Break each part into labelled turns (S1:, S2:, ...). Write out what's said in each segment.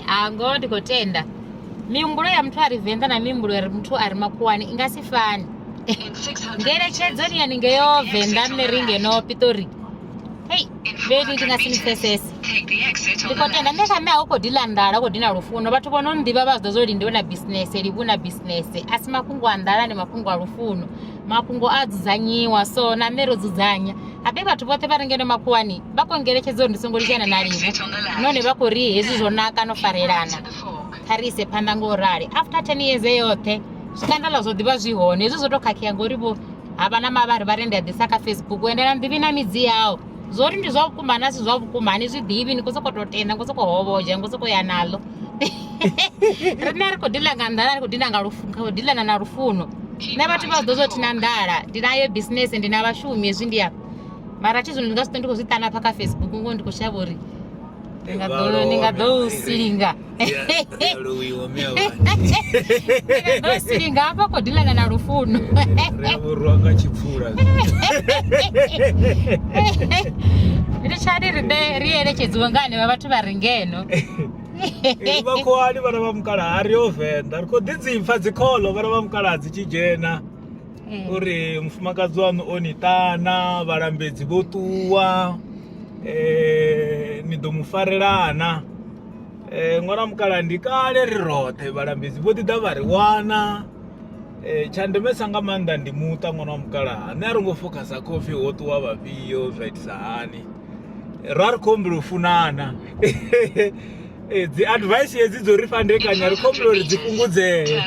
S1: hango ndi khou tenda mihumbulo ya muthu a ri venḓa na mihumbulo ya ri muthu a ri makuwani i nga si fani ngeletshedzo ni yone ngeyo venḓa nṋe ri ngeno pitori hei vhedi ndi nga si ni pfesese ndi khou tenda nṋe kha nṋe a u khou dila nḓala u khou dina lufuno vhathu vho no ḓivha vha zwi ḓo zwo lindi vho na bisinese livhu na bisinese a si mafhungo a nḓala ndi mafhungo a lufuno mafhungo a dzudzanyiwa so na nṋe ro dzudzanya habe vhathu vhoṱhe vha re ngeno makhuwani vha khou ngeletshedzo uri ndi songo lingana na lini nahone vha khou ri hezwi zwo naka no farelana kha ri ise phanḓa ngo rali after ten years e yoṱhe zwikandala zwo ḓivha zwi hone hezwi zwo tou khakhea ngori vho ha vha na mavhari vha ri ndi a ḓisa kha facebook ende na nḓivhi na midzi yawo zwo ri ndi zwa vhukuma na si zwa vhukuma ni zwi ḓivhi ni khou sokou tou tenda ngo sokou hovhodzha ngo sokou ya naḽo rine ri khou dila nga nḓala ri khou dila nga khou dilana na lufuno nṋe vhathu vha ḓo zwo thi na nḓala ndi nayo bisinese ndi na vhashumi hezwi ndi afha mara thi zwino ndi nga si ṱo ndi khou zwi ṱana pha kha facebook ngo ndi khou shavha uri ndi nga ḓo ndi nga ḓo u silinga ḓo silinga hafha khou dilana na lufuno revhurwa nga
S2: tshipfula
S1: ri tshani ri ri elekedziwe nga hanevha vhathu vha re ngeno
S2: vha khoani vhana vha mukala a ri yo venḓa ri khou ḓi dzipfa dzikholo vhana vha mukala dzi tshi dzhena eh. uri mufumakadzi waṋu o ni ṱana vhalambedzi vho ṱuwa um ni ḓo mu farelana um ṅwana mukala ndi kale ri roṱhe vhalambedzi vho ḓi ḓa vha ri wana Eh, tsha ndemesa nga maanḓa ndi muṱa ṅwana wa mukalaha nṋe a ro ngo focusa khofi ho ṱuwa vhafhio zwa itisa hani ra ri khou humbula u funana eh, dzi advice hedzi dzo ri fandekanya ri khou humbula uri dzi fhungudzee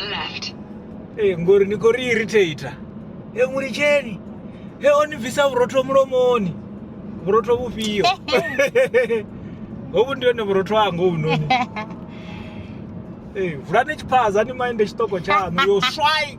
S2: eh, ngori ni khou ri irritator e mu litsheni he o ni bvisa vhurotho mulomoni vhurotho vhufhio hovhu ndi hone vhurotho hanga hovhunoni vulani tshiphaza ni maende tshiṱoko tshaṋu yo swai